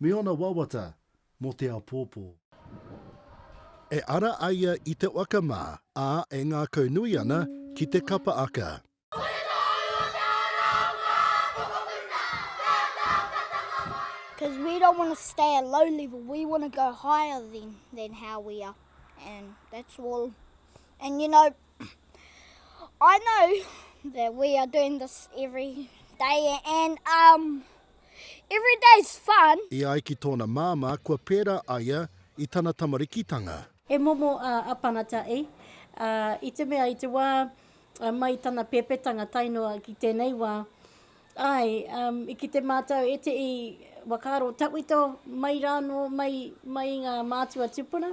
Me ōna wawata mō te apōpō. E ara ai ia i te waka mā, ā, e ngākau nui ana ki te kapa aka. Cause we don't want to stay at low level, we want to go higher than than how we are and that's all. And you know I know that we are doing this every day and um Every day's fun. E ai ki tōna māmā kua pērā a ia i tana tamarikitanga. He momo a Apanata i. I te mea i te wā mai i tana pēpētanga tae noa ki tēnei wā, āe, i kite mātou e te i whakaaro tawhito mai rānō mai i ngā mātua tupuna,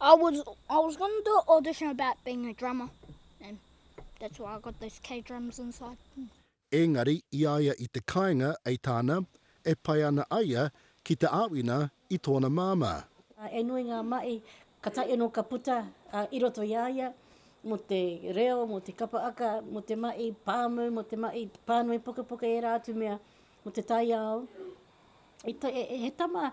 I was I was going to do an audition about being a drummer and that's why I got those K drums inside. Engari i a ia i te kainga ei tāna e pai ana a ia ki te āwina i tōna māmā. He nui ngā mahi ka taea anō ka puta i roto i a ia mō te reo, mō te kapa aka, mō te mahi pāmu, mō te mahi pānui pukapuka ērā atu mea mō te taiao. He tama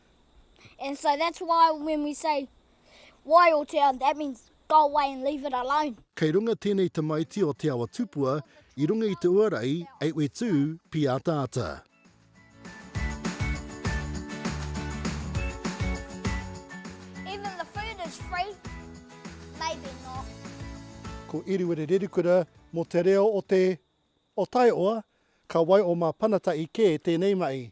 And so that's why when we say wai o te ao, that means go away and leave it alone. Kei runga tēnei tamaiti o Te Awa Tupua i runga i te uarai ei we tū pīataata. Even the food is free, maybe not. Ko Iriwere Rerikura mō te reo o te, o Taioa, ka wai o Māpanatahi kē tēnei mahi.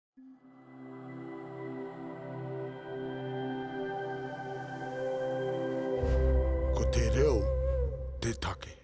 Ko te reo te take.